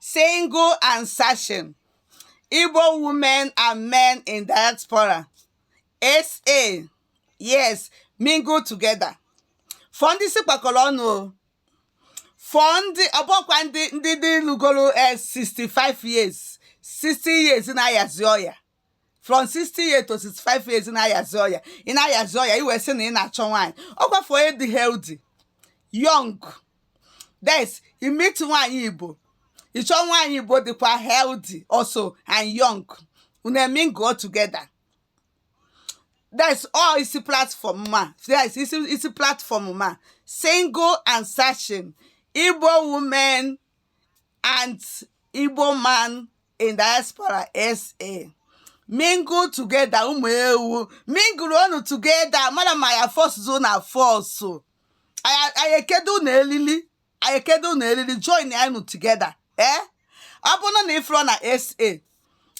Single and Searching Igbo Women and Men in Diaspora SA Yes Mingle Together for ndị isi kpakọrọ ọnụ o for ndị ọ bụkwa ndị ndị dị lugoro 65 years 60 years na-ayazi ọya from 60 years to 65 years na-ayazi ọya ị na-ayazi ọya i wee sị na ị na-achọ nwaanyị ọ kwa for onye dị healthy young that's i meet nwaanyị igbo ịchọ nwaanyị igbo dịkwa healthy also and young unu emingle together that's all isi platform a yes isi isi platform a single and searching igbo women and igbo man in diaspora SA. Mingle together mụ ewee mingle unu together mara ma ya force na force anyị ekedo na elili anyị ekedo na elili join unu together ee eh? ọ bụrụ na ị fụrụ na SA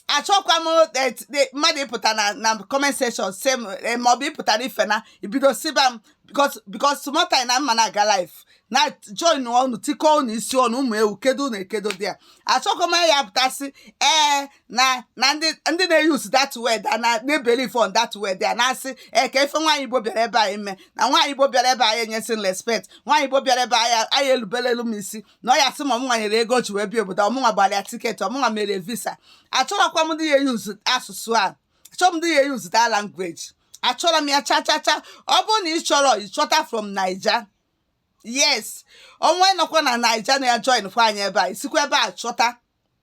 achọkwa m eh, eh, mmadụ ịpụta na na comment section sị m eh, maọbụ ịpụta live na ibido sịba m because because small time na mma na-aga live na join unu tikọ unu isi ọnụ mụ ewee kedo unu ekedo dị ya achọghị m ya pụtasị ee na na ndị na-euse that word na na-ebelieve on that word ya na-asị ee kee ife nwaanyị igbo bịara ebe a ime na nwaanyị igbo bịara ebe a anaghị enyezi respect nwaanyị igbo bịara ebe a anaghị elubelu m isi na ọ ya sị ma ọ mụnwa nyere ego ji wee bịa obodo ọ mụnwa gbara ya tiketi ọ mụnwa mere visa achọrọkwa m ndị ya-euse asụsụ a achọrọ m ndị ya-euse that language achọrọ m ya cha cha cha ọ bụrụ na ị chọrọ ịchọta from naija yes onye nọkwa na naija na ya join kwa anyị ebe a isikwa ebe a chọta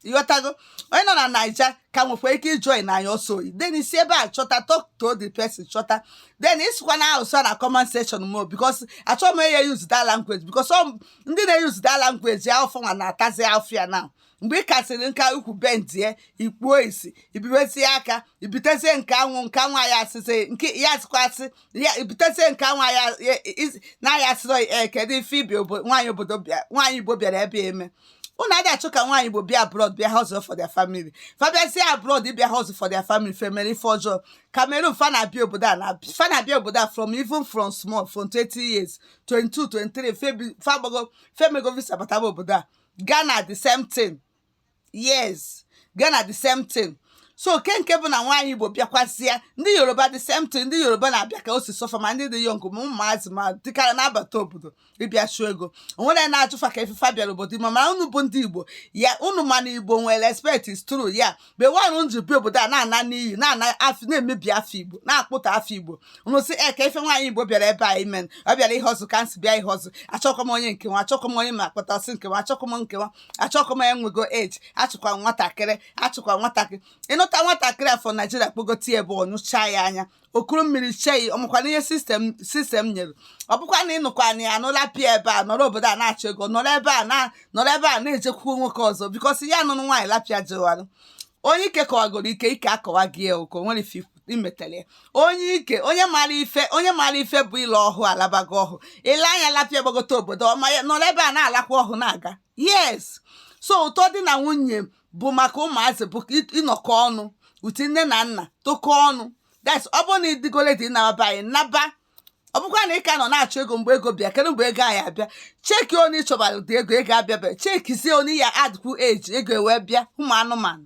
ịghọtago onye nọ na naija ka nwekwa ike ijoin anyị ọsọ oyi then isi ebe a chọta talk to the person chọta then isikwa na asụsụ na comment section m o because achọghị m onye euse that language because ọ ndị na-euse that language ya ọ fanwa na-atazi afịa na mgbe ị kasịrị nka ukwu bendie ikpuo isi ibibezie aka ibitezie nke anwụ nke anwụ ya asịsị nke ya asịkwasị ya ibitezie nke anwụ ya na ya asịrọ ee kedu ife ibi nwaanyị obodo nwaanyị igbo bịara ebe a ime unu adị achọ ka nwaanyị igbo bịa abroad bịa hustle for their family fa bịazie abroad bịa hustle for their family fa emere ife ọjọọ cameroon fa na-abịa obodo a fa na-abịa obodo a from even from small from 20 years 22 23 fa agbago fa emego visa bataba obodo a Ghana the same thing yes Ghana the same thing so kee nke bụ na nwaanyị Igbo bịakwasịa ndị Yoruba the same thing ndị Yoruba na-abịa ka o si sọ fa ma ndị dị young ma ụmụazị ma ndị kara na-abata obodo ịbịa chụọ ego onwere na-ajụ fa kee ife fa bịara obodo ime mana unu bụ ndị Igbo ya unu ma na Igbo nwere respect is true ya bewanụ nji bi obodo a na-ana n'iyi na-ana afa na-emebi afa igbo na-akpọtọ afa igbo unu sị e ka ife nwaanyị igbo bịara ebe a ime ọ bịara ihe ọzọ ka nsị bịa ihe ọzọ achọkọ m onye nke a achọkọ m onye ma akpata ọ sị nke a achọkọ m nke a achọkọ m enwego eji achụkwa nwatakịrị achụkwa nwatakịrị ịnụta nwatakịrị from nigeria kpọgote ebe ọ nụchaa ya anya okuru mmiri chei ọ makwanụ ihe system system nyere ọ bụkwa na ịnụkwa nwaanyị lapịa ebe a nọrọ obodo a na-achọ ego nọrọ ebe a na nọrọ ebe a na-ejekwukwu nwoke ọzọ because ya nụrụ nwaanyị lapịa jewalụ onye ike kọwagoro ike ike akọwa gị ya ụkọ nwere ife imetele onye ike onye mara ife onye mara ife bụ ịla ọhụ alabago ọhụ ile anya lapịa gbagote obodo ọma ya nọrọ ebe a na-alakwa ọhụ na-aga yes so ụtọ di na nwunye bụ maka ụmụazị bụ ịnọkọ ọnụ ụdị nne na nna tokọ ọnụ that's ọ bụrụ na ị dịgo ready naba anyị naba ọ bụkwa na ị ka nọ na-achọ ego mgbe ego bịa kedu mgbe ego anyị abịa cheki onye ị chọbara dị ego ego abịabe chekizie onye ya adịkwu eji ego ewee bịa ụmụ anụmanụ